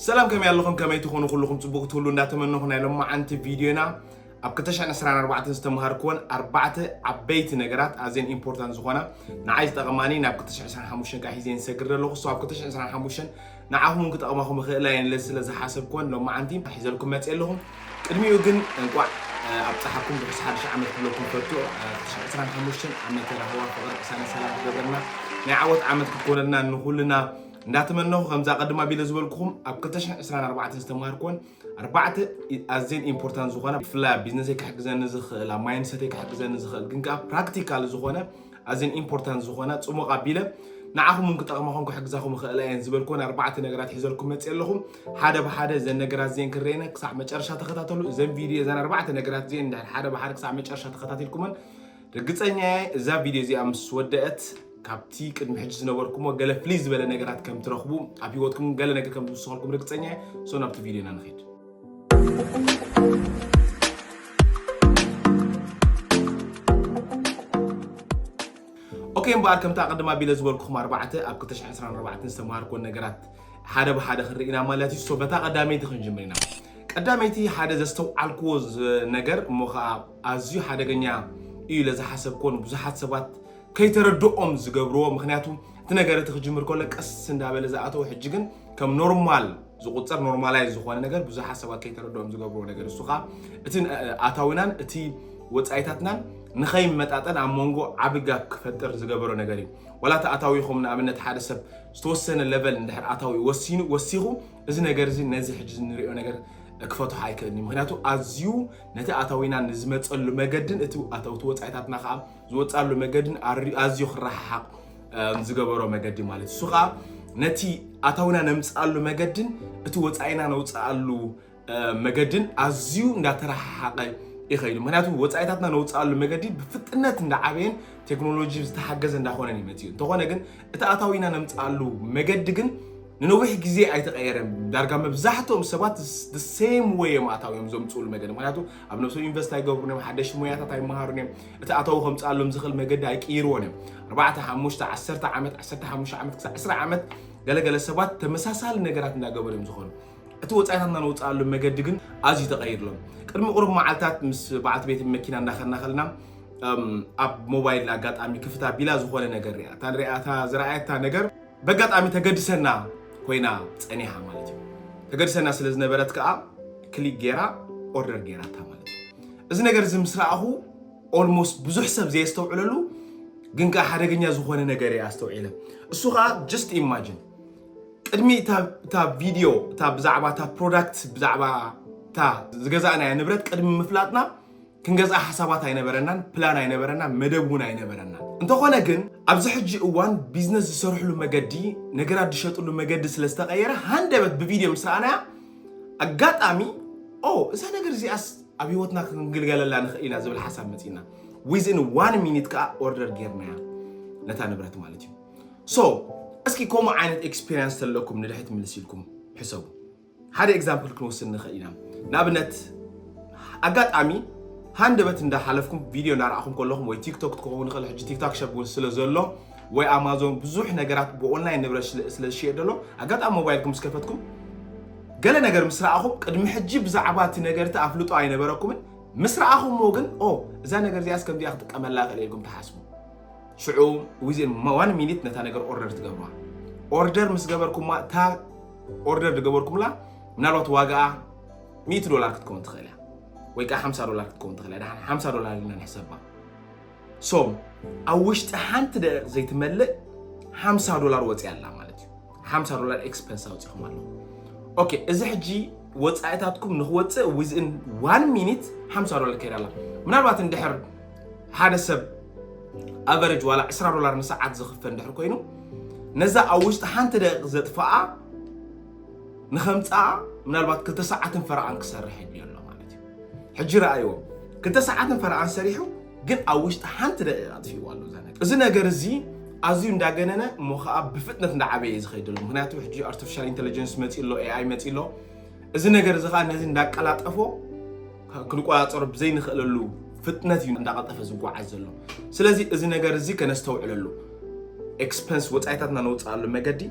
ሰላም ከመይ ኣለኹም ከመይ ትኾኑ ኩልኹም ጽቡቕ ክትህሉ እንዳተመነኹ ናይ ሎማዓንቲ ቪድዮና ኣብ 224 ዝተምሃርክወን ኣርባዕተ ዓበይቲ ነገራት ኣዝየን ኢምፖርታንት ዝኾና ንዓይ ዝጠቐማኒ ናብ 225 ከዓ ሒዘን ሰግር ዘለኹ ሶ ኣብ 225 ንዓኹም እውን ክጠቕማኹም ይኽእላ እየን ኢለ ስለ ዝሓሰብክወን ሎማዓንቲ ሒዘልኩም መፅእ ኣለኹ ቅድሚኡ ግን እንቋዕ ኣብ ፀሓኩም ብርስ ሓድሽ ዓመት ክብለኩም ፈቱ 225 ዓመተ ራህዋ ፍቕሪ ቅሳነ ሰላም ክገብረልና ናይ ዓወት ዓመት ክኮነልና ንኹልና እንዳተመነኹ ከምዛ ቀድም ኣቢለ ዝበልኩኹም ኣብ 224 ዝተማሃርኩዎን ኣርባዕተ ኣዝየን ኢምፖርታንት ዝኾና ብፍላይ ኣብ ቢዝነሰይ ክሕግዘኒ ዝኽእል ኣብ ማይንድሰተይ ክሕግዘኒ ዝኽእል ግን ከዓ ፕራክቲካል ዝኾነ ኣዝየን ኢምፖርታንት ዝኾና ፅሙቕ ኣቢለ ንዓኹም እውን ክጠቕማኹም ክሕግዛኹም ይኽእላ እየን ዝበልኩዎን ኣርባዕተ ነገራት ሒዘልኩም መፅእ ኣለኹም ሓደ ብሓደ እዘን ነገራት እዚአን ክረየነ ክሳዕ መጨረሻ ተኸታተሉ እዘን ቪድዮ እዘን ኣርባዕተ ነገራት እዚአን ሓደ ብሓደ ክሳዕ መጨረሻ ተኸታቲልኩመን ርግጸኛየ እዛ ቪድዮ እዚኣ ምስ ወደአት ካብቲ ቅድሚ ሕጂ ዝነበርኩሞ ገለ ፍልይ ዝበለ ነገራት ከም ትረኽቡ ኣብ ሂወትኩም ገለ ነገር ከም ትውስኸልኩም ርግጸኛ እየ ሶ ናብቲ ቪድዮ ኢና ንኸይድ ኦኬ እምበኣር ከምቲ ኣቐድማ ቢለ ዝበልኩኹም ኣርባዕተ ኣብ 224 ዝተምሃርኮ ነገራት ሓደ ብሓደ ክንርኢ ኢና ማለት እዩ ሶ በታ ቀዳመይቲ ክንጅምር ኢና ቀዳመይቲ ሓደ ዘስተውዓልክዎ ነገር እሞ ከዓ ኣዝዩ ሓደገኛ እዩ ኢለ ዝሓሰብክዎ ንብዙሓት ሰባት ከይተረድኦም ዝገብርዎ ምክንያቱ እቲ ነገር እቲ ክጅምር ከሎ ቀስ እንዳበለ ዝኣተው ሕጂ ግን ከም ኖርማል ዝቁፀር ኖርማላይዝ ዝኾነ ነገር ብዙሓት ሰባት ከይተረድኦም ዝገብርዎ ነገር እሱ ከዓ እቲ ኣታዊናን እቲ ወፃኢታትናን ንኸይመጣጠን ኣብ መንጎ ዓቢ ጋብ ክፈጥር ዝገበሮ ነገር እዩ ዋላ እቲ ኣታዊኹም ንኣብነት ሓደ ሰብ ዝተወሰነ ለቨል እንድሕር ኣታዊ ወሲኑ ወሲኹ እዚ ነገር እዚ ነዚ ሕጂ ንሪኦ ነገር ክፈትሖ ኣይክእልኒ ምክንያቱ ኣዝዩ ነቲ ኣታዊና ንዝመጸሉ መገድን እቲ ኣታውቲ ወጻኢታትና ከኣ ዝወጻሉ መገድን ኣዝዩ ክረሓሓቕ ዝገበሮ መገዲ ማለት እሱ ከኣ ነቲ ኣታዊና ነምጽኣሉ መገድን እቲ ወጻኢና ነውጽኣሉ መገድን ኣዝዩ እንዳተረሓሓቐ ይኸይዱ ምክንያቱ ወፃኢታትና ነውፅኣሉ መገዲ ብፍጥነት እንዳዓበየን ቴክኖሎጂ ዝተሓገዘ እንዳኾነን ይመፅእ እዩ እንተኾነ ግን እቲ ኣታዊና ነምፅኣሉ መገዲ ግን ንነዊሕ ግዜ ኣይተቐየረን። ዳርጋ መብዛሕትኦም ሰባት ሴም ወይ እዮም ኣታዊኦም ዘምፅኡሉ መገዲ። ምክንያቱ ኣብ ነብሶም ኢንቨስት ኣይገብሩን እዮም፣ ሓደሽቲ ሞያታት ኣይመሃሩን እዮም፣ እቲ ኣታዊ ከምፅኣሎም ዝኽእል መገዲ ኣይቅይርዎን እዮም። ኣርባዕተ ሓሙሽተ ዓሰርተ ዓመት ዓሰርተ ሓሙሽተ ዓመት ክሳዕ ዕስራ ዓመት ገለገለ ሰባት ተመሳሳሊ ነገራት እንዳገበሩ እዮም ዝኾኑ። እቲ ወጻኢታትና ነውጽኣሉ መገዲ ግን ኣዝዩ ተቐይሩ ኣሎ። ቅድሚ ቁሩብ መዓልታት ምስ በዓልቲ ቤት መኪና እንዳኸድና ከለና ኣብ ሞባይል ኣጋጣሚ ክፍት ኣቢላ ዝኾነ ነገር ሪኣ እታ ንሪኣ እታ ዝረኣየታ ነገር በጋጣሚ ተገድሰና ኮይና ጸኒሓ ማለት እዩ። ተገድሰና ስለ ዝነበረት ከዓ ክሊክ ጌራ ኦርደር ጌራታ ማለት እዩ። እዚ ነገር እዚ ምስ ረኣኹ ኦልሞስት ብዙሕ ሰብ ዘየስተውዕለሉ ግን ከዓ ሓደገኛ ዝኾነ ነገር እየ ኣስተውዒለ። እሱ ከዓ ጀስት ኢማጅን ቅድሚ እታ ቪድዮ እታ ብዛዕባ እታ ፕሮዳክት ብዛዕባ እታ ዝገዛእናያ ንብረት ቅድሚ ምፍላጥና ክንገዝኣ ሓሳባት ኣይነበረናን፣ ፕላን ኣይነበረናን፣ መደብ እውን ኣይነበረናን። እንተኾነ ግን ኣብዚ ሕጂ እዋን ቢዝነስ ዝሰርሕሉ መገዲ ነገራት ዝሸጥሉ መገዲ ስለ ዝተቐየረ ሃንደበት ብቪድዮ ምስ ረኣናያ ኣጋጣሚ ኦ እዛ ነገር እዚኣስ ኣብ ሂወትና ክንግልገለላ ንኽእል ኢና ዝብል ሓሳብ መፂና ዊዝን ዋን ሚኒት ከዓ ኦርደር ጌርናያ ነታ ንብረት ማለት እዩ። ሶ እስኪ ከምኡ ዓይነት ኤክስፔሪንስ ተለኩም ንድሕት ምልስ ኢልኩም ሕሰቡ ሓደ ኤግዛምፕል ክንወስድ ንኽእል ኢና ንኣብነት ኣጋጣሚ ሃንደበት እንዳሓለፍኩም ቪድዮ እናረኣኹም ከለኹም ወይ ቲክቶክ ትኸውን ኽእል ሕጂ ቲክታክ ሸብ እውን ስለ ዘሎ ወይ ኣማዞን ብዙሕ ነገራት ብኦንላይን ንብረት ስለ ዝሽየጥ ዘሎ ኣጋጣሚ ሞባይልኩም ምስ ከፈትኩም ገለ ነገር ምስ ረኣኹም ቅድሚ ሕጂ ብዛዕባ እቲ ነገርቲ ኣፍልጦ ኣይነበረኩምን ምስ ረኣኹምዎ ግን ኦ እዛ ነገር እዚኣስ ከምዚኣ ክጥቀመላ ክእል ኢልኩም ትሓስቡ ሽዑ ዊዝን ዋን ሚኒት ነታ ነገር ኦርደር ትገብራ ኦርደር ምስ ገበርኩማ እታ ኦርደር ዝገበርኩምላ ምናልባት ዋጋኣ 100 ዶላር ክትከውን ትኽእል እያ ወይ ከዓ 50 ዶላር ክትከውን ትኽእል እያ ድሓን 50 ዶላር ኢልና ንሕሰባ ሶ ኣብ ውሽጢ ሓንቲ ደቂቕ ዘይትመልእ 50 ዶላር ወፂኣ ኣላ ማለት እዩ ሓምሳ ዶላር ኤክስፐንስ ኣውፂኹም ኣሎ ኦኬ እዚ ሕጂ ወፃኢታትኩም ንክወፅእ ዊዝን ዋን ሚኒት ሓምሳ ዶላር ከይዳ ኣላ ምናልባት እንድሕር ሓደ ሰብ ኣቨሬጅ ዋላ ዕስራ ዶላር ንሰዓት ዝኽፈ እንድሕር ኮይኑ ነዛ ኣብ ውሽጢ ሓንቲ ደቂቕ ዘጥፍኣ ንኸምፅኣ ምናልባት ክልተ ሰዓትን ፈረቓን ክሰርሕ ይድልዮ ኣሎ ማለት እዩ ሕጂ ረኣይዎ ክልተ ሰዓትን ፈረቓን ሰሪሑ ግን ኣብ ውሽጢ ሓንቲ ደቂቕ ኣጥፊእዎ ኣሎ እዛ ነገር እዚ ነገር እዚ ኣዝዩ እንዳገነነ እሞ ከዓ ብፍጥነት እንዳዓበየ ዝኸይድ ኣሎ ምክንያቱ ሕጂ ኣርቲፊሻል ኢንቴሊጀንስ መፂ ኣሎ ኤኣይ መፂ ኣሎ እዚ ነገር እዚ ከዓ ነዚ እንዳቀላጠፎ ክንቆፃፀሮ ብዘይንኽእለሉ ፍጥነት እዩ እንዳቐልጠፈ ዝጓዓዝ ዘሎ ስለዚ እዚ ነገር እዚ ከነስተውዕለሉ ኤክስፐንስ ወፃኢታትና ነውፅኣሉ መገዲ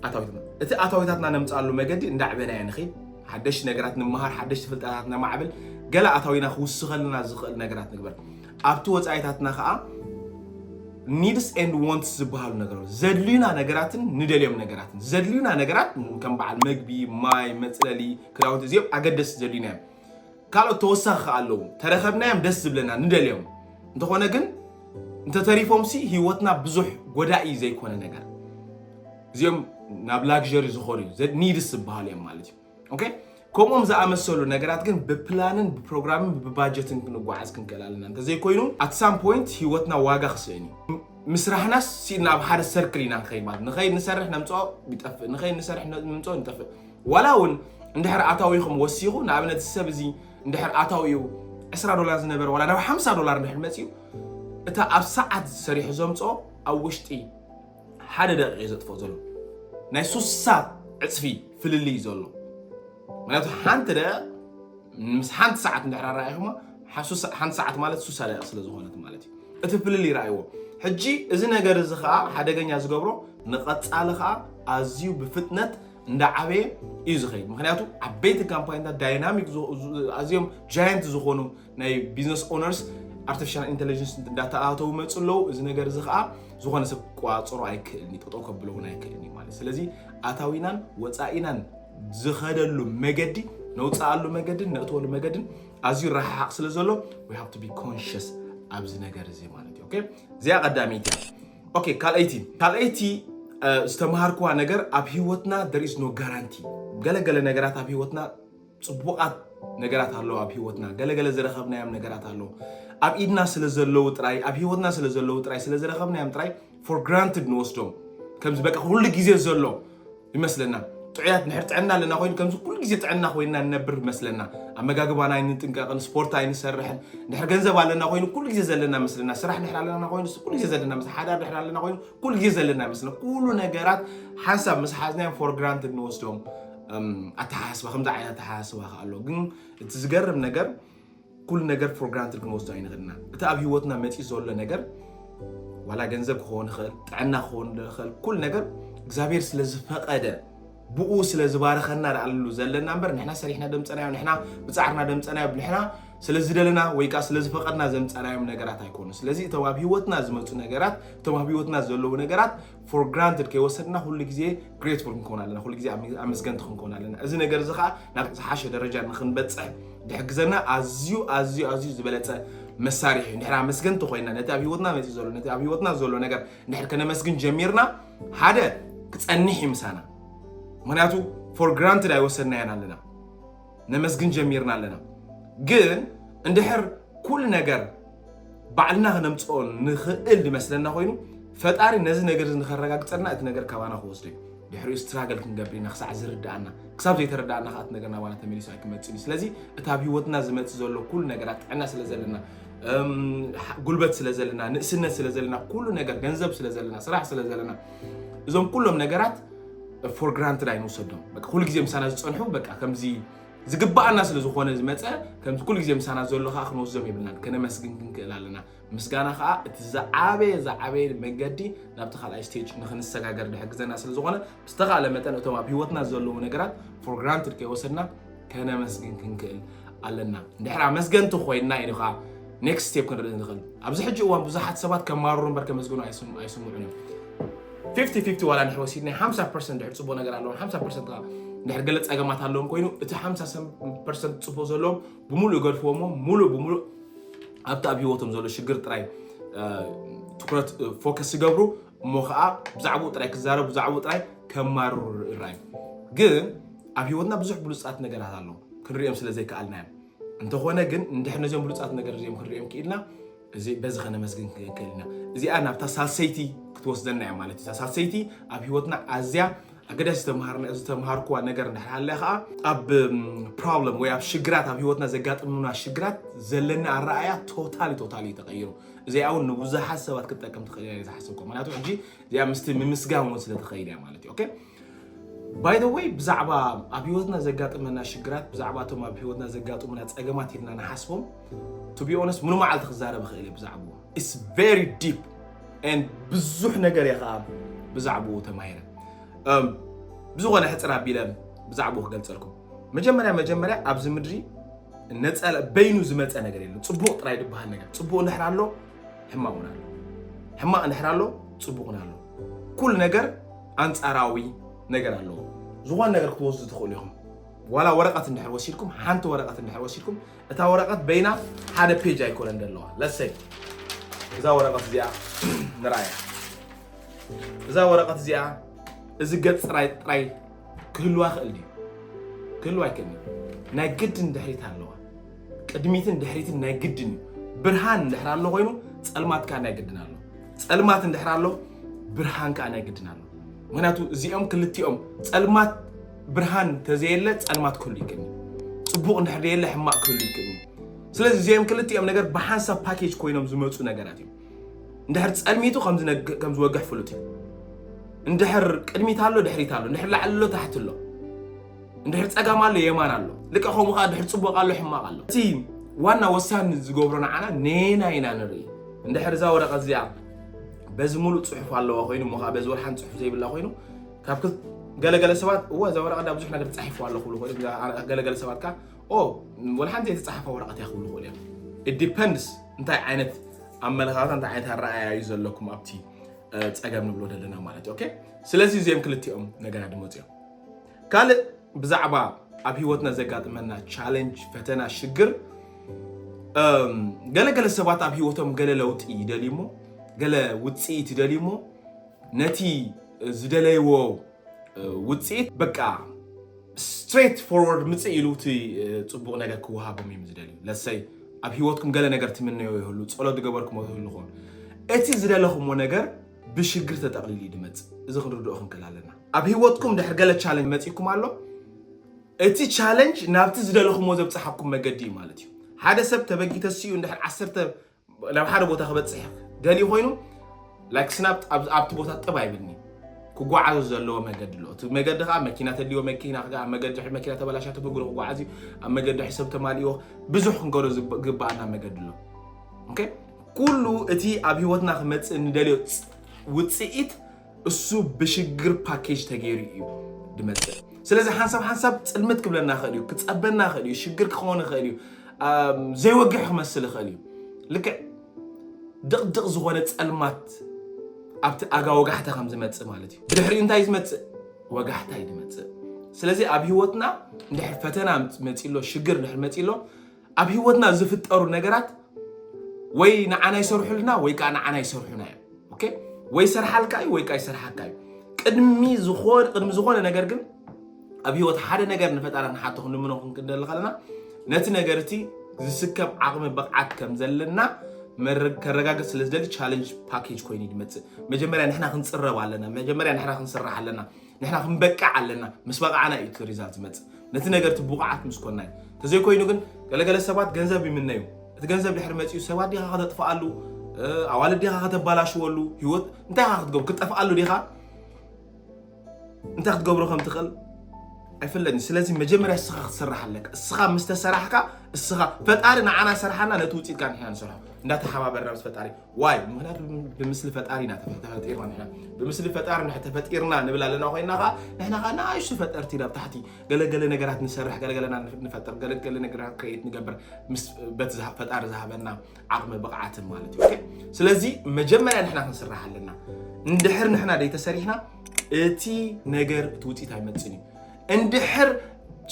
ኣታዊትና እቲ ኣታዊታትና ነምፅኣሉ መገዲ እንዳዕበናዮ ንኽድ ሓደሽቲ ነገራት ንመሃር፣ ሓደሽቲ ፍልጠታት ነማዕብል፣ ገለ ኣታዊና ክውስኸልና ዝኽእል ነገራት ንግበር። ኣብቲ ወፃኢታትና ከዓ ኒድስ ኤንድ ወንትስ ዝበሃሉ ነገራት ዘድልዩና ነገራትን ንደልዮም ነገራትን ዘድልዩና ነገራት ከም በዓል መግቢ፣ ማይ፣ መፅለሊ፣ ክዳውንቲ እዚኦም ኣገደስቲ ዘድልዩና እዮም። ካልኦት ተወሳኺ ከኣ ኣለዉ ተረከብናዮም ደስ ዝብለና ንደልዮም እንተኾነ ግን እንተተሪፎምሲ ሂወትና ብዙሕ ጎዳኢ ዘይኮነ ነገር እዚኦም ናብ ላግዠሪ ዝኾኑ እዩ ኒድስ ዝበሃሉ እዮም ማለት እዩ ኦኬ ከምኦም ዝኣመሰሉ ነገራት ግን ብፕላንን ብፕሮግራምን ብባጀትን ክንጓዓዝ ክንክእል ኣለና እንተዘይኮይኑ ኣት ሳም ፖይንት ሂወትና ዋጋ ክስእን እዩ ምስራሕናስ ሲእና ኣብ ሓደ ሰርክል ኢና ንኸይድ ማለት ንኸይድ ንሰርሕ ነምፅኦ ይጠፍእ ንኸይድ ንሰርሕ ንምፅኦ ንጠፍእ ዋላ ውን እንድሕር ኣታዊኹም ወሲኹ ንኣብነት እዚ ሰብ እዚ እንድሕር ኣታዊኡ ዕስራ ዶላር ዝነበረ ዋላ ናብ ሓምሳ ዶላር እንድሕር መጺኡ እታ ኣብ ሰዓት ሰሪሑ ዘምጽኦ ኣብ ውሽጢ ሓደ ደቂቕ እዩ ዘጥፍኦ ዘሎ ናይ ሱሳ ዕጽፊ ፍልልይ እዩ ዘሎ ምክንያቱ ሓንቲ ደቂቕ ምስ ሓንቲ ሰዓት እንድሕር ኣረኣኢኹማ ሓንቲ ሰዓት ማለት ሱሳ ደቂቕ ስለ ዝኾነት ማለት እዩ እቲ ፍልልይ ረኣይዎ ሕጂ እዚ ነገር እዚ ከዓ ሓደገኛ ዝገብሮ ንቐፃሊ ከዓ ኣዝዩ ብፍጥነት እንዳዓበየ እዩ ዝኸይድ ምክንያቱ ዓበይቲ ካምፓኒታት ዳይናሚክ ኣዝዮም ጃየንት ዝኾኑ ናይ ቢዝነስ ኦነርስ ኣርቲፊሻል ኢንቴሊጀንስ እንዳተኣተው መፁ ኣለዉ እዚ ነገር እዚ ከዓ ዝኾነ ሰብ ክቆፃፀሮ ኣይክእልን እዩ ጠጠው ከብሎ እውን ኣይክእልን እዩ ማለት ስለዚ ኣታዊናን ወፃኢናን ዝኸደሉ መገዲ ነውፅኣሉ መገድን ነእትወሉ መገድን ኣዝዩ ረሓሓቕ ስለ ዘሎ ዊ ሃብ ቱ ቢ ኮንሽስ ኣብዚ ነገር እዚ ማለት እዩ ኦኬ እዚኣ ቀዳመይቲ እያ ኦኬ ካልኣይቲ ካልኣይቲ ዝተምሃርኩዋ ነገር ኣብ ሂወትና there is no guarantee ገለገለ ነገራት ኣብ ሂወትና ፅቡቓት ነገራት ኣለዉ ኣብ ሂወትና ገለገለ ዝረኸብናዮም ነገራት ኣለዉ ኣብ ኢድና ስለ ዘለዉ ጥራይ ኣብ ሂወትና ስለ ዘለዉ ጥራይ ስለ ዝረኸብናዮም ጥራይ ፎር ግራንትድ ንወስዶም ከምዚ በቃ ኩሉ ግዜ ዘሎ ይመስለና ጥዑያት ንሕር ጥዕና ኣለና ኮይኑ ከምዚ ኩሉ ግዜ ጥዕና ኮይንና ንነብር ይመስለና ኣመጋግባና ኣይንጥንቀቕን ስፖርት ኣይንሰርሕን ንሕር ገንዘብ ኣለና ኮይኑ ኩሉ ግዜ ዘለና መስለና ስራሕ ንሕር ኣለና ኮይኑ ኩሉ ግዜ ዘለና ምስ ሓዳር ንሕር ኣለና ኮይኑ ኩሉ ግዜ ዘለና ይመስለና ኩሉ ነገራት ሓንሳብ ምስ ሓዝናዮም ፎር ግራንት እንወስዶም ኣተሓሳስባ ከምዚ ዓይነት ኣተሓሳስባ ከ ኣሎ ግን እቲ ዝገርም ነገር ኩሉ ነገር ፎር ግራንትድ ክንወስዶ ኣይንኽእልን ኢና። እቲ ኣብ ህይወትና መፂኡ ዘሎ ነገር ዋላ ገንዘብ ክኸውን ይኽእል፣ ጥዕና ክኸውን ይኽእል፣ ኩሉ ነገር እግዚኣብሔር ስለ ዝፈቐደ ብኡ ስለ ዝባረኸና ዳኣሉ ዘለና እምበር ንሕና ሰሪሕና ደምፀናዮ ንሕና ብፃዕርና ደምፀናዮ ንሕና ስለ ዝደለና ወይ ከዓ ስለ ዝፈቐድና ዘምፀናዮም ነገራት ኣይኮኑ። ስለዚ እቶም ኣብ ህይወትና ዝመፁ ነገራት እቶም ኣብ ህይወትና ዘለዉ ነገራት ፎር ግራንትድ ከይወሰድና ኩሉ ግዜ ግሬትፉል ክንከውን ኣለና፣ ኩሉ ግዜ ኣመስገንቲ ክንከውን ኣለና። እዚ ነገር እዚ ከዓ ናብ ዝሓሸ ደረጃ ንክንበፅሕ ዝሕግዘና ኣዝዩ ኣዝዩ ኣዝዩ ዝበለፀ መሳርሒ እዩ። ንድሕር ኣመስገንቲ ኮይና ነቲ ኣብ ሂወትና መፂ ዘሎ ነቲ ኣብ ሂወትና ዘሎ ነገር ንድሕር ከነመስግን ጀሚርና ሓደ ክፀኒሕ እዩ ምሳና። ምክንያቱ ፎር ግራንትድ ኣይወሰድናያን ኣለና፣ ነመስግን ጀሚርና ኣለና። ግን እንድሕር ኩሉ ነገር ባዕልና ክነምፅኦ ንኽእል ዝመስለና ኮይኑ ፈጣሪ ነዚ ነገር እዚ ንኸረጋግፀልና እቲ ነገር ካባና ክወስዱ እዩ ድሕሪኡ ስትራገል ክንገብር ኢና ክሳዕ ዝርዳእና ክሳብ ዘይተረዳእና ከዓ እቲ ነገር ናባና ተመሊሱ ኣይክመፅን እዩ ስለዚ እቲ ኣብ ሂወትና ዝመፅእ ዘሎ ኩሉ ነገራት ጥዕና ስለ ዘለና ጉልበት ስለ ዘለና ንእስነት ስለ ዘለና ኩሉ ነገር ገንዘብ ስለ ዘለና ስራሕ ስለ ዘለና እዞም ኩሎም ነገራት ፎር ግራንትድ ኣይንውሰዶም ኩሉ ግዜ ምሳና ዝፀንሑ በቃ ከምዚ ዝግባኣና ስለ ዝኾነ ዝመጸ ከምቲ ኩሉ ግዜ ምሳና ዘሎ ከኣ ክንወስዶም የብልናን ከነመስግን ክንክእል ኣለና ምስጋና ከኣ እቲ ዝዓበየ ዝዓበየ መንገዲ ናብቲ ካልኣይ ስቴጅ ንክንሰጋገር ዝሕግዘና ስለ ዝኾነ ብዝተኻእለ መጠን እቶም ኣብ ሂወትና ዘለዉ ነገራት ፎር ግራንትድ ከይወሰድና ከነመስግን ክንክእል ኣለና እንድሕር ኣመስገንቲ ኮይንና ኢኻ ኔክስት ስቴፕ ክንርኢ ንኽእል ኣብዚ ሕጂ እዋን ብዙሓት ሰባት ከማርሩ እምበር ከመስግኑ ኣይስምዑን እዮም ፊፍቲ ፊፍቲ ዋላ ንሕር ወሲድ ናይ ሓምሳ ፐርሰንት ድሕር ፅቡቅ ነገር ኣለዎም ሓምሳ ፐርሰንት ከዓ ድሕር ገለ ፀገማት ኣለዎም ኮይኑ እቲ ሓምሳ ፐርሰንት ፅቡቅ ዘለዎም ብምሉእ ይገድፍዎ እሞ ሙሉእ ብምሉእ ኣብቲ ኣብ ሂወቶም ዘሎ ሽግር ጥራይ ትኩረት ፎከስ ይገብሩ እሞ ከዓ ብዛዕባኡ ጥራይ ክዛረቡ ብዛዕባኡ ጥራይ ከማርሩ ይረኣዩ ግን ኣብ ሂወትና ብዙሕ ብሉፃት ነገራት ኣለዉ ክንሪኦም ስለ ዘይከኣልና እዮም እንተኾነ ግን እንድሕር ነዚኦም ብሉፃት ነገር እዚኦም ክንሪኦም ክኢልና እዚ በዚ ከነመስግን ክንክእል ኢና እዚኣ ናብታ ሳልሰይቲ ክትወስደና እያ ማለት እዩ ሳልሰይቲ ኣብ ሂወትና ኣዝያ ኣገዳሲ ዝተምሃርኩዋ ነገር እንድሓለ ከዓ ኣብ ፕሮብለም ወይ ኣብ ሽግራት ኣብ ሂወትና ዘጋጥሙና ሽግራት ዘለና ኣረኣያ ቶታሊ ቶታሊ እዩ ተቀይሩ እዚኣ እውን ንብዙሓት ሰባት ክትጠቅም ትኽእል እያ ዝሓሰብኩ ምክንያቱ ሕጂ እዚኣ ምስቲ ምምስጋን እውን ስለትኸይድ እያ ማለት እዩ ባይ ዘ ወይ ብዛዕባ ኣብ ህይወትና ዘጋጥመና ሽግራት ብዛዕባ እቶም ኣብ ህይወትና ዘጋጥሙና ጸገማት ኢልና ንሓስቦም ቱ ቢ ኦነስት ሙሉ መዓልቲ ክዛረብ እኽእል እየ ብዛዕብኡ ኢትስ ቨሪ ዲፕ ኤንድ ብዙሕ ነገር እየ ከዓ ብዛዕብኡ ተማሂረ እም፣ ብዝኾነ ሕፅር ኣቢለ ብዛዕብኡ ክገልፀልኩም መጀመርያ መጀመርያ ኣብዚ ምድሪ ነፀላ በይኑ ዝመፀ ነገር የለን ፅቡቕ ጥራይ ዝበሃል ነገር ፅቡቕ እንድሕር ኣሎ ሕማቕ እውን ኣሎ ሕማቕ እንድሕር ኣሎ ፅቡቕ እውን ኣሎ ኩሉ ነገር ኣንጻራዊ ነገር ኣለዎ። ዝኾነ ነገር ክትወስዱ ትኽእሉ ኢኹም። ዋላ ወረቐት እንድሕር ወሲድኩም ሓንቲ ወረቐት እንድሕር ወሲድኩም እታ ወረቐት በይና ሓደ ፔጅ ኣይኮነን ዘለዋ ለሰይ እዛ ወረቐት እዚኣ ንርኣያ እዛ ወረቐት እዚኣ እዚ ገፅ ጥራይ ጥራይ ክህልዋ ክእል ድዩ ክህልዋ ኣይክእልን ናይ ግድን ድሕሪት ኣለዋ ቅድሚትን ድሕሪትን ናይ ግድን እዩ። ብርሃን እንድሕር ኣሎ ኮይኑ ፀልማት ከዓ ናይ ግድን ኣሎ። ፀልማት እንድሕር ኣሎ ብርሃን ከዓ ናይ ግድን ኣሎ። ምክንያቱ እዚኦም ክልቲኦም ፀልማት ብርሃን ተዘየለ ፀልማት ክህሉ ይክእል እዩ። ፅቡቅ እንድሕር ዘየለ ሕማቅ ክህሉ ይክእል እዩ። ስለዚ እዚኦም ክልቲኦም ነገር ብሓንሳብ ፓኬጅ ኮይኖም ዝመፁ ነገራት እዮም። እንድሕር ፀልሚቱ ከም ዝነግ- ከም ዝወግሕ ፍሉጥ እዩ። እንድሕር ቅድሚት ኣሎ ድሕሪት ኣሎ፣ እንድሕር ላዕሊ ኣሎ ታሕቲ ኣሎ። እንድሕር ፀጋም ኣሎ የማን ኣሎ ልቀ ከምኡ ከዓ ድሕር ፅቡቅ ኣሎ ሕማቅ ኣሎ እቲ ዋና ወሳኒ ዝገብሮ ንዓና ነና ኢና ንርኢ እንድሕር እዛ ወረቀት እዚኣ በዚ ሙሉእ ፅሑፍ ኣለዋ ኮይኑ እሞ ከዓ በዚ ወርሓን ፅሑፍ ዘይብላ ኮይኑ ካብ ክል- ገለገለ ሰባት እወ እዛ ወረቀት ዳ ብዙሕ ነገር ተፃሒፉ ኣሎ ክብሉ ኮይኑ ገለገለ ሰባት ከዓ ኦ ወላ ሓንቲ ዘይተፃሓፈ ወረቀት እያ ክብሉ ኮይኑ እዮም ኢዲፐንድስ እንታይ ዓይነት ኣመለኻኽታ እንታይ ዓይነት ኣረኣያ እዩ ዘለኩም ኣብቲ እ፣ ፀገም ንብሎ ዘለና ማለት እዩ ኦኬ ስለዚ እዚኦም ክልቲኦም ነገራት ድመፅኦም ካልእ ብዛዕባ ኣብ ሂወትና ዘጋጥመና ቻለንጅ፣ ፈተና፣ ሽግር ገለ ገለ ሰባት ኣብ ሂወቶም ገለ ለውጢ ይደልዩ እሞ ገለ ውጽኢት ይደልዩ እሞ ነቲ ዝደለይዎ ውጽኢት በቃ ስትሬት ፎርወርድ ምጽእ ኢሉ እቲ ጽቡቕ ነገር ክወሃቦም እዮም ዝደልዩ ለሰይ ኣብ ሂወትኩም ገለ ነገር ትምነዮ ይህሉ ጸሎት ዝገበርኩሞ ይህልኹም እቲ ዝደለኹሞ ነገር ብሽግር ተጠቕሊሉ እዩ ድመጽእ እዚ ክንርድኦ ክንክእል ኣለና ኣብ ሂወትኩም ድሕሪ ገለ ቻለንጅ መጺኩም ኣሎ እቲ ቻለንጅ ናብቲ ዝደለኹሞ ዘብጽሓኩም መገዲ እዩ ማለት እዩ ሓደ ሰብ ተበጊ ተሲኡ እንድሕር ዓሰርተ ናብ ሓደ ቦታ ክበፅሕ ደልዩ ኮይኑ ላይክ ስናፕ ኣብቲ ቦታ ጥብ ኣይብልኒ ክጓዓዙ ዘለዎ መገዲ ኣሎ እቲ መገዲ ከዓ መኪና ተድልዮ መኪና ክዓ መገዲ መኪና ተበላሻ ተብግሮ ክጓዓዝ እዩ ኣብ መገዲ ሕሰብ ተማልዮ ብዙሕ ክንገዶ ዝግባኣና መገዲ ኣሎ ኩሉ እቲ ኣብ ሂወትና ክመፅእ ንደልዮ ውፅኢት እሱ ብሽግር ፓኬጅ ተገይሩ እዩ ድመፅእ ስለዚ ሓንሳብ ሓንሳብ ፅልምት ክብለና ይኽእል እዩ ክፀበና ይኽእል እዩ ሽግር ክኸውን ይኽእል እዩ ዘይወግሕ ክመስል ይኽእል እዩ ልክዕ ድቕድቕ ዝኾነ ፀልማት ኣብቲ ኣጋ ወጋሕታ ከም ዝመፅእ ማለት እዩ ብድሕሪኡ እንታይ ዝመፅእ ወጋሕታ እዩ ዝመፅእ ስለዚ ኣብ ህይወትና እንድሕር ፈተና መፂሎ ሽግር እንድሕር መፂሎ ኣብ ህይወትና ዝፍጠሩ ነገራት ወይ ንዓና ይሰርሑልና ወይ ከዓ ንዓና ይሰርሑና እዮም። ኦኬ ወይ ይሰርሓልካ እዩ ወይ ከዓ ይሰርሓካ እዩ። ቅድሚ ዝኾነ ቅድሚ ዝኾነ ነገር ግን ኣብ ህይወት ሓደ ነገር ንፈጣሪ ንሓቶ ክንልምኖ ክንክደሊ ከለና ነቲ ነገር እቲ ዝስከም ዓቕሚ ብቕዓት ከም ዘለና ከረጋገፅ ስለ ዝደሊ ቻለንጅ ፓኬጅ ኮይኑ ይመፅእ። መጀመርያ ንሕና ክንፅረብ ኣለና። መጀመርያ ንሕና ክንስራሕ ኣለና። ንሕና ክንበቅዕ ኣለና ምስ በቓዕና እዩ እቲ ሪዛልት ዝመፅእ ነቲ ነገር እቲ ብቑዓት ምስ ኮና እዩ ተዘይኮይኑ ግን ገለገለ ሰባት ገንዘብ ይምነዩ እቲ ገንዘብ ድሕሪ መፂኡ ሰባት ዲኻ ከተጥፍኣሉ ኣዋልድ ዲኻ ከተባላሽወሉ ህይወት እንታይ ኻ ክትገብሩ ክጠፍኣሉ ዲኻ እንታይ ክትገብሮ ከም ትኽእል ኣይፍለጥኒ ስለዚ መጀመርያ እስኻ ክትስራሕ ኣለካ እስኻ ምስ ተሰራሕካ እስኻ ፈጣሪ ንዓና ሰርሓና ነቲ ውፅኢት ካ ንሕና ንሰርሖ እንዳተሓባበርና ምስ ፈጣሪ ዋይ ምክንያቱ ብምስሊ ፈጣሪ ኢና ተፈጢርና ንሕና ብምስሊ ፈጣሪ ንሕ ተፈጢርና ንብል ኣለና ኮይና ከዓ ንሕና ከዓ ንኣሽቱ ፈጠርቲ ናብ ታሕቲ ገለገለ ነገራት ንሰርሕ ገለገለና ንፈጥር ገለገለ ነገራት ክሬት ንገብር ምስ በቲ ዝሃ- ፈጣሪ ዝሃበና ዓቕሚ ብቕዓትን ማለት እዩ ኦኬ? ስለዚ መጀመርያ ንሕና ክንስራሕ ኣለና እንድሕር ንሕና ደይተሰሪሕና እቲ ነገር እቲ ውፅኢት ኣይመፅን እዩ እንድሕር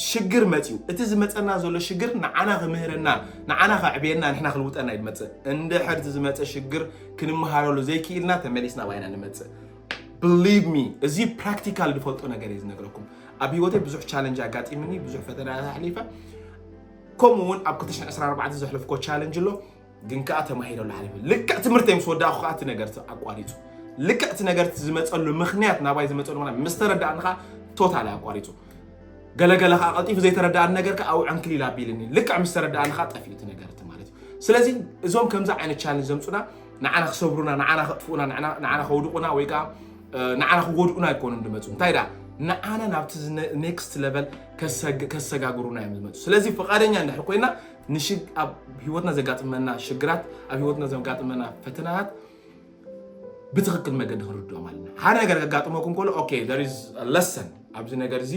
ሽግር መፅዩ እቲ ዝመፀና ዘሎ ሽግር ንዓና ክምህረና ንዓና ከዕብየና ንሕና ክልውጠና እዩ ዝመፅእ እንድሕር እቲ ዝመፀ ሽግር ክንመሃረሉ ዘይክኢልና ተመሊስና ባይና ንመፅእ ብሊቭ ሚ እዚ ፕራክቲካል ዝፈልጦ ነገር እዩ ዝነግረኩም ኣብ ሂወተይ ብዙሕ ቻለንጅ ኣጋጢምኒ ብዙሕ ፈተናታት ኣሕሊፈ ከምኡ እውን ኣብ 224 ዘሕለፍኮ ቻለንጅ ኣሎ ግን ከዓ ተማሂረሉ ሓሊፈ ልክዕ ትምህርተይ ምስ ወዳእኩ ከዓ እቲ ነገር ኣቋሪፁ ልክዕ እቲ ነገር ዝመፀሉ ምክንያት ናባይ ዝመፀሉ ምክንያት ምስ ተረዳእኒ ከዓ ቶታሊ ኣቋሪፁ ገለገለ ከዓ ቀልጢፉ ዘይተረዳእኒ ነገር ከዓ ኣብኡ ዕንክሊል ኣቢልኒ ልክዕ ምስ ተረዳእኒ ከዓ ጠፊኡ እቲ ነገር እቲ ማለት እዩ ስለዚ እዞም ከምዚ ዓይነት ቻለንጅ ዘምፁና ንዓና ክሰብሩና ንዓና ከጥፍኡና ንዓና- ንዓና ከውድቑና ወይ ከዓ እ፣ ንዓና ክጎድኡና ኣይኮኑን ዝመፁ እንታይ ደኣ ንዓና ናብቲ ኔክስት ለቨል ከሰጋግሩና እዮም ዝመፁ ስለዚ ፍቓደኛ እንድሕር ኮይና ንሽግ ኣብ ህይወትና ዘጋጥመና ሽግራት ኣብ ህይወትና ዘጋጥመና ፈተናታት ብትኽክል መገዲ ክንርድኦም ኣለና ሓደ ነገር ከጋጥመኩም ከሎ ኦኬ there is a lesson ኣብዚ ነገር እዚ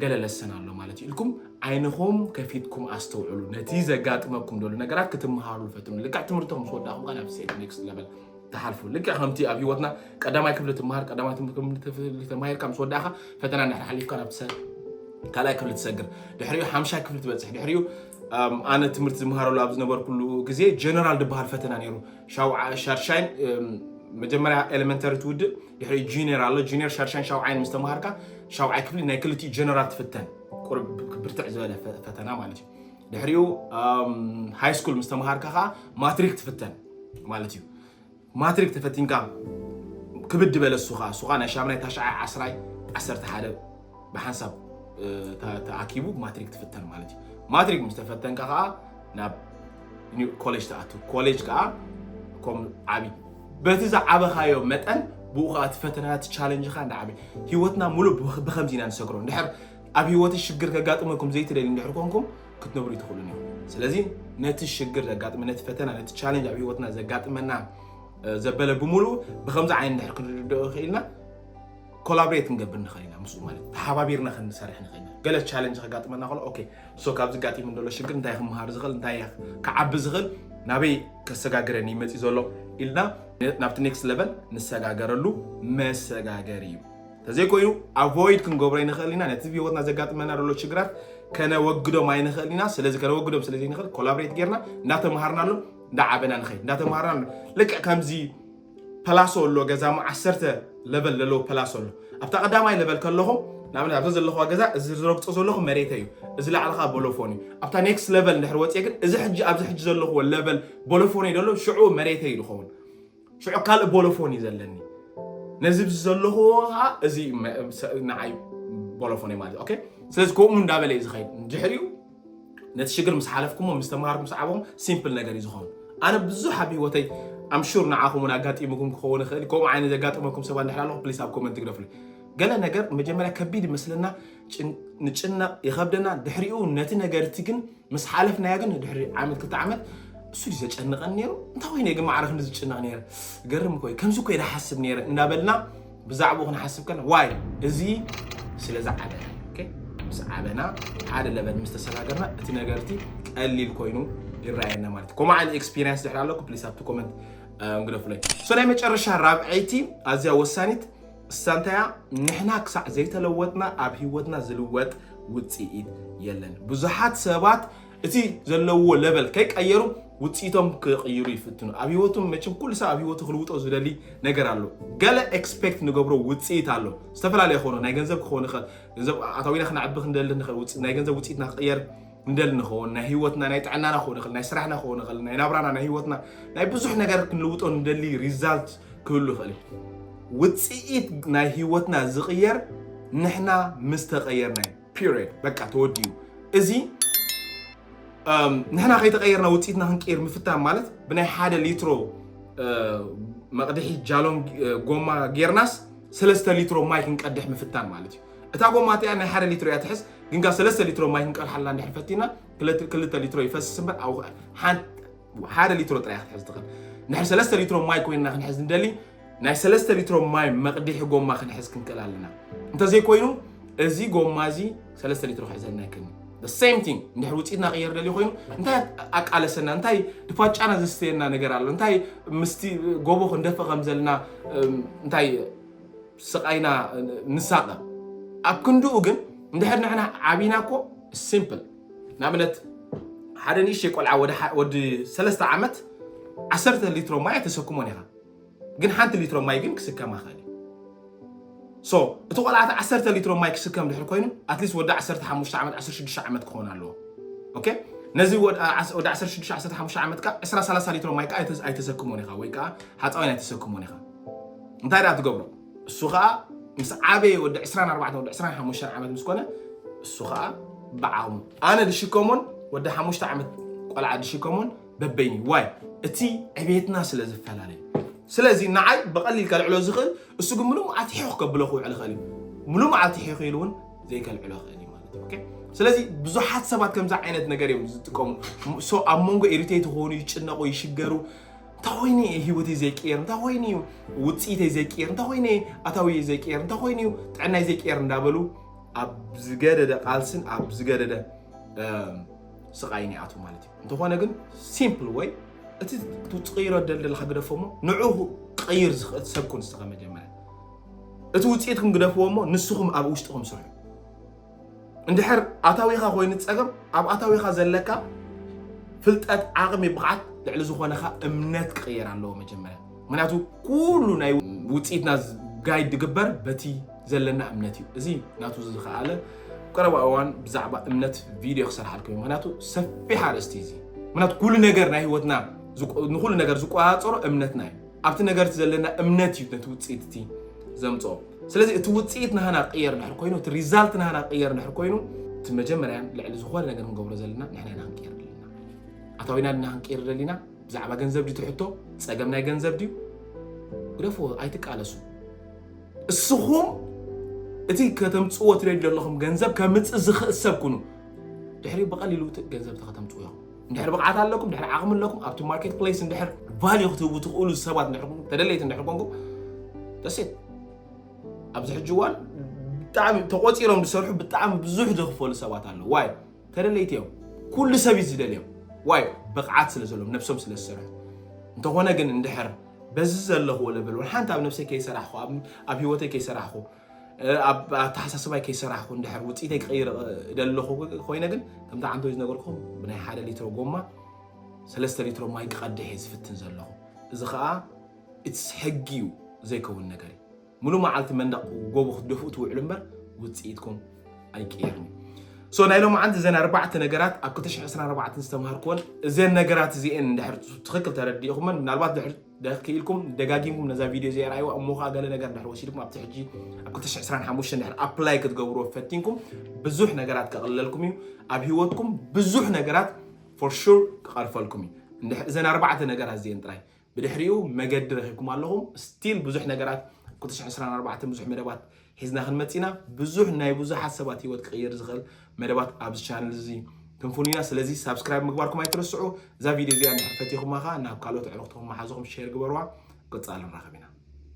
ገለ ለሰን ኣሎ ማለት እዩ ኢልኩም ዓይንኹም ከፊትኩም ኣስተውዕሉ ነቲ ዘጋጥመኩም ደሉ ነገራት ክትምሃሩ ፈትኑ ልክዕ ትምህርቶም ምስ ወዳኹም ከ ናብ ሴት ኔክስት ለቨል ትሓልፉ ልክዕ ከምቲ ኣብ ሂወትና ቀዳማይ ክፍሊ ትምሃር ቀዳማይ ክፍሊ ተማሂርካ ምስ ወዳእካ ፈተና ድሕሪ ሓሊፍካ ናብ ካልኣይ ክፍሊ ትሰግር ድሕሪኡ ሓምሻይ ክፍሊ ትበፅሕ ድሕሪኡ ኣነ ትምህርቲ ዝምሃረሉ ኣብ ዝነበርኩሉ ግዜ ጀነራል ዝበሃል ፈተና ነይሩ ሻርሻይን መጀመርያ ኤሌመንተሪ ትውድእ ድሕሪ ጁኒየር ኣሎ ጁኒየር ሻርሻይን ሻውዓይን ምስ ተምሃርካ ሻውዓይ ክፍሊ ናይ ክልቲኡ ጀነራል ትፍተን ቁርብ ብርትዕ ዝበለ ፈተና ማለት እዩ ድሕሪኡ ሃይ ስኩል ምስ ተምሃርካ ከዓ ማትሪክ ትፍተን ማለት እዩ ማትሪክ ተፈቲንካ ክብድ በለ እሱ ከዓ እሱ ከዓ ናይ ሻምናይ ታሽዓይ ዓስራይ ዓሰርተ ሓደ ብሓንሳብ ተኣኪቡ ማትሪክ ትፍተን ማለት እዩ ማትሪክ ምስ ተፈተንካ ከዓ ናብ ኮሌጅ ትኣቱ ኮሌጅ ከዓ ከም ዓብዪ በቲ ዝዓበኻዮ መጠን ብኡ ከዓ እቲ ፈተና እቲ ቻለንጅኻ እንዳዓበ ሂወትና ሙሉእ ብከምዚ ኢና ንሰግሮ እንድሕር ኣብ ህይወትሽ ሽግር ከጋጥመኩም ዘይትደልዩ እንድሕር ኮንኩም ክትነብሩ ኣይትኽእሉን እዮም። ስለዚ ነቲ ሽግር ዘጋጥመ ነቲ ፈተና ነቲ ቻለንጅ ኣብ ህይወትና ዘጋጥመና ዘበለ ብምሉእ ብከምዚ ዓይነት እንድሕር ክንርድኦ ይኽእልና ኮላብሬት ክንገብር ንኽእል ኢና ምስኡ ማለት ተሓባቢርና ክንሰርሕ ንኽእል ኢና ገለ ቻለንጅ ከጋጥመና ከሎ ኦኬ እሶ ካብዚ ጋጢሙ ዘሎ ሽግር እንታይ ክምሃር ዝኽእል እንታይ ክዓቢ ዝኽእል ናበይ ከሰጋግረኒ ይመፅእ ዘሎ ኢልና ናብቲ ኔክስት ለቨል ንሰጋገረሉ መሰጋገሪ እዩ ተዘይኮይኑ ኣቮይድ ክንገብሮ ኣይንኽእል ኢና። ነቲ ብህይወትና ዘጋጥመና ዘሎ ሽግራት ከነወግዶም ኣይንኽእል ኢና። ስለዚ ከነወግዶም ስለ ዘይንኽእል ኮላብሬት ጌርና እንዳተምሃርናሉ እንዳዓበና ንኸይድ እንዳተምሃርናሉ ልክዕ ከምዚ ፐላሶ ኣሎ ገዛሞ ዓሰርተ ለበል ዘለዎ ፐላሶ ኣሎ ኣብታ ቀዳማይ ለበል ከለኹም ንኣብነት ኣብዛ ዘለኹዋ ገዛ እዚ ዝረግፆ ዘለኹ መሬተ እዩ እዚ ላዕልኻ ቦሎፎን እዩ ኣብታ ኔክስት ለበል እንድሕር ወፅየ ግን እዚ ሕጂ ኣብዚ ሕጂ ዘለኹዎ ለበል ቦሎፎን እዩ ደሎ ሽዑ መሬተ እዩ ዝኸውን ሽዑ ካልእ ቦሎፎን እዩ ዘለኒ ነዚ ዘለኹዎ ከዓ እዚ ንዓይ ቦሎፎን እዩ ማለት ኦኬ ስለዚ ከምኡ እንዳበለ እዩ ዝኸይድ ድሕሪኡ ነቲ ሽግር ምስ ሓለፍኩሞ ምስ ተምሃርኩም ምስ ዓበኹም ሲምፕል ነገር እዩ ዝኾኑ ኣነ ብዙሕ ኣብ ሂወተይ ኣምሹር ንዓኹም እውን ኣጋጢሙኩም ክኸውን ይኽእል ከምኡ ዓይነት ዘጋጠመኩም ሰባት ድሕር ኣለኹ ፕሊስ ኣብ ኮመንት ግደፍሉ ገለ ነገር መጀመርያ ከቢድ ይመስለና ንጭነቕ ይኸብደና ድሕሪኡ ነቲ ነገርቲ ግን ምስ ሓለፍናዮ ግን ድሕሪ ዓመት ክልተ ዓመት እሱ ድዩ ዘጨንቐን ነይሩ እንታይ ኮይኑ እየ ግን ማዕረ ክንዲ ዝጭነቕ ነይረ ገርም እኮ እዩ ከምዚ እኮ ኢለ ሓስብ ነይረ እናበልና ብዛዕባኡ ክንሓስብ ከለና ዋይ እዚ ስለ ዝዓበና ኦኬ፣ ምስ ዓበና ሓደ ለበል ምስ ተሰጋገርና እቲ ነገር እቲ ቀሊል ኮይኑ ይረኣየና ማለት እዩ ከምኡ ዓይነት ኤክስፒሪየንስ ድሕሪ ኣለኩ ፕሊስ ኣብቲ ኮመንት እንግደፉለይ ሶ ናይ መጨረሻ ራብዐይቲ ኣዝያ ወሳኒት እሳ እንታይ እያ ንሕና ክሳዕ ዘይተለወጥና ኣብ ሂወትና ዝልወጥ ውጽኢት የለን ብዙሓት ሰባት እቲ ዘለዎ ለበል ከይቀየሩ ውጽኢቶም ክቕይሩ ይፍትኑ ኣብ ሂወቶም መቸም ኩሉ ሰብ ኣብ ሂወቱ ክልውጦ ዝደሊ ነገር ኣሎ ገለ ኤክስፔክት ንገብሮ ውጽኢት ኣሎ ዝተፈላለየ ክኾኑ ናይ ገንዘብ ክኾን ይኽእል ገንዘብ ኣታዊና ክነዕቢ ክንደሊ ንኽእል ናይ ገንዘብ ውጽኢትና ክቕየር ንደሊ ንኸውን ናይ ህይወትና ናይ ጥዕናና ክኸውን ይኽእል ናይ ስራሕና ክኸውን ይኽእል ናይ ናብራና ናይ ህይወትና ናይ ብዙሕ ነገር ክንልውጦ ንደሊ ሪዛልት ክህሉ ይኽእል እዩ ውፅኢት ናይ ህይወትና ዝቕየር ንሕና ምስ ተቐየርና እዩ ፒሪድ በቃ ተወዲኡ እዚ ንሕና ከይተቐየርና ውፅኢትና ክንቀይር ምፍታን ማለት ብናይ ሓደ ሊትሮ መቕድሒ ጃሎም ጎማ ጌርናስ ሰለስተ ሊትሮ ማይ ክንቀድሕ ምፍታን ማለት እዩ እታ ጎማ እቲኣ ናይ ሓደ ሊትሮ እያ ትሕዝ ግን ካብ ሰለስተ ሊትሮ ማይ ክንቀድሓላ እንድሕር ፈቲና ክልተ ሊትሮ ይፈስስ እምበር ኣብ ሓደ ሊትሮ ጥራይ ክትሕዝ ትኽእል እንድሕር ሰለስተ ሊትሮ ማይ ኮይንና ክንሕዝ ንደሊ ናይ ሰለስተ ሊትሮ ማይ መቕዲሒ ጎማ ክንሕዝ ክንክእል ኣለና እንተዘይኮይኑ እዚ ጎማ እዚ ሰለስተ ሊትሮ ክሕዘልና ይክእል ሴም ቲንግ እንድሕር ውፅኢትና ቅየር ደልዩ ኮይኑ እንታይ ኣቃለሰና እንታይ ድፋጫና ዘስተየና ነገር ኣሎ እንታይ ምስቲ ጎቦ ክንደፍእ ከም ዘለና እንታይ ስቓይና ንሳቐ ኣብ ክንድኡ ግን እንድሕር ንሕና ዓቢና እኮ ሲምፕል ንኣብነት ሓደ ንእሽተይ ቆልዓ ወዲ ሰለስተ ዓመት ዓሰርተ ሊትሮ ማይ ተሰክሞን ኢኻ ግን ሓንቲ ሊትሮ ማይ ግን ክስከም ኣኽእል ሶ እቲ ቆልዓ እቲ ዓሰርተ ሊትሮ ማይ ክስከም ድሕር ኮይኑ ኣትሊስት ወዲ ዓሰርተ ሓሙሽተ ዓመት ዓሰርተ ሽዱሽተ ዓመት ክኸውን ኣለዎ ኦኬ ነዚ ወዲ ዓሰርተ ሽዱሽተ ዓሰርተ ሓሙሽተ ዓመት ከዓ ዕስራ ሰላሳ ሊትሮ ማይ ከዓ ኣይተሰክሞን ኢኻ ወይ ከዓ ሓፃዊን ኣይተሰክሞን ኢኻ እንታይ ደኣ ትገብሮ እሱ ከኣ ምስ ዓበየ ወዲ 24 ወዲ 25 ዓመት ምስ ኮነ እሱ ከኣ ብዓቕሙ ኣነ ድሽከሞን ወዲ ሓሙሽተ ዓመት ቆልዓ ድሽከሞን በበይኒ ዋይ እቲ ዕቤትና ስለ ዝፈላለዩ ስለዚ ንዓይ ብቐሊል ከልዕሎ ዝኽእል እሱ ግን ምሉእ መዓልቲ ሒኹ ከብሎ ክውዕል ይኽእል እዩ ምሉእ መዓልቲ ሒኹ ኢሉ እውን ዘይከልዕሎ ይኽእል እዩ ማለት እዩ ስለዚ ብዙሓት ሰባት ከምዚ ዓይነት ነገር እዮም ዝጥቀሙ ኣብ መንጎ ኢሪቴት ይኾኑ ይጭነቑ ይሽገሩ እንታይ ኮይኑ እየ ሂወተይ ዘይቅየር እንታይ ኮይኑ እዩ ውፅኢተይ ዘይቅየር እንታይ ኮይኑ እየ ኣታዊየ ዘይቅየር እንታይ ኮይኑ እዩ ጥዕናይ ዘይቅየር እንዳበሉ ኣብ ዝገደደ ቃልስን ኣብ ዝገደደ ስቃይን ይኣትው ማለት እዩ እንተኾነ ግን ሲምፕል ወይ እቲ ትቅይሮ ደልደልካ ግደፎ እሞ ንዑ ክቅይር ዝኽእል ሰብ ኩን ዝተኸ መጀመርያ እቲ ውፅኢትኩም ግደፍዎ እሞ ንስኹም ኣብ ውሽጥኹም ስርሑ እንድሕር ኣታዊኻ ኮይኑ ፀገም ኣብ ኣታዊኻ ዘለካ ፍልጠት ዓቕሚ ብቕዓት ልዕሊ ዝኾነኻ እምነት ክቕየር ኣለዎ መጀመርያ ምክንያቱ ኩሉ ናይ ውፅኢትና ጋይድ ዝግበር በቲ ዘለና እምነት እዩ እዚ ናቱ ዝኸኣለ ቀረባ እዋን ብዛዕባ እምነት ቪድዮ ክሰርሓልኩም እዩ ምክንያቱ ሰፊሕ ኣርእስቲ እዚ ምክንያቱ ኩሉ ነገር ናይ ህይወትና ንኩሉ ነገር ዝቆፃፀሮ እምነትና እዩ ኣብቲ ነገር እቲ ዘለና እምነት እዩ ነቲ ውፅኢት እቲ ዘምፅኦ ስለዚ እቲ ውፅኢት ናህና ቅየር ድሕር ኮይኑ እቲ ሪዛልት ናህና ቅየር ድሕር ኮይኑ እቲ መጀመርያ ልዕሊ ዝኾነ ነገር ንገብሮ ዘለና ንሕና ኢና ክንቅየር ደሊና ኣታዊና ድና ክንቅየር ደሊና ብዛዕባ ገንዘብ ድዩ ትሕቶ ፀገም ናይ ገንዘብ ድዩ ግደፍዎ ኣይትቃለሱ እስኹም እቲ ከተምፅዎ ትደልዩ ዘለኹም ገንዘብ ከምፅእ ዝኽእል ሰብ ኩኑ ድሕሪ ብቐሊሉ ገንዘብ ተኸተምፅዎ ኢኹም እንድሕር ብቕዓት ኣለኩም፣ እንድሕር ዓቕሚ ኣለኩም፣ ኣብቲ ማርኬት ፕሌስ እንድሕር ቫልዩ ክትህቡ ትኽእሉ ሰባት እንድሕር ኮንኩም፣ ተደለይቲ እንድሕር ኮንኩም ደሴት ኣብዚ ሕጂ እዋን ብጣዕሚ ተቖፂሮም ዝሰርሑ ብጣዕሚ ብዙሕ ዝኽፈሉ ሰባት ኣለዉ። ዋይ ተደለይቲ እዮም። ኩሉ ሰብ እዩ ዝደልዮም። ዋይ ብቕዓት ስለ ዘለዎም ነብሶም ስለ ዝሰርሑ እንተኾነ ግን እንድሕር በዚ ዘለኽዎ ለበል ሓንቲ ኣብ ነብሰይ ከይሰራሕኹ ኣብ ህይወተይ ከይሰራሕኹ ኣብ ኣተሓሳስባይ ከይሰራሕኩ እንድሕር ውፅኢተይ ክቕይር ደለኹ ኮይነ ግን ከምቲ ዓንተወይ ዝነገርኩም ብናይ ሓደ ሊትሮ ጎማ ሰለስተ ሊትሮ ማይ ክቐድሕ እየ ዝፍትን ዘለኹ እዚ ከዓ ኢትስ ሕጊ እዩ ዘይከውን ነገር እዩ ሙሉ መዓልቲ መንደቕ ጎቦ ክትደፍኡ ትውዕሉ እምበር ውፅኢትኩም ኣይቅየርን ሶ ናይ ሎም ዓንቲ እዘን ኣርባዕተ ነገራት ኣብ 224 ዝተምሃርክወን እዘን ነገራት እዚአን እንድሕር ትኽክል ተረዲእኹመን ምናልባት ድሕር ደክ ክኢልኩም ደጋጊምኩም ነዛ ቪድዮ እዚኣ ርኣይዋ እሞ ከዓ ገለ ነገር ድሕር ወሲድኩም ኣብቲ ሕጂ ኣብ 225 ድሕር ኣፕላይ ክትገብርዎ ፈቲንኩም ብዙሕ ነገራት ከቕልለልኩም እዩ ኣብ ሂወትኩም ብዙሕ ነገራት ፎር ሹር ክቐርፈልኩም እዩ እዘን ኣርባዕተ ነገራት እዚአን ጥራይ ብድሕሪኡ መገዲ ረኺብኩም ኣለኹም ስቲል ብዙሕ ነገራት 224 ብዙሕ መደባት ሒዝና ክንመጽእ ኢና ብዙሕ ናይ ብዙሓት ሰባት ሂወት ክቕይር ዝኽእል መደባት ኣብዚ ቻነል እዚ ክንፍኑ ኢና ስለዚ ሳብስክራይብ ምግባርኩም ኣይትርስዑ እዛ ቪድዮ እዚኣ እንድሕር ፈቲኹማ ከኣ ናብ ካልኦት ኣዕሩኽትኹም መሓዙኹም ሼር ግበርዋ ቀጻሊ ንራኸብ ኢና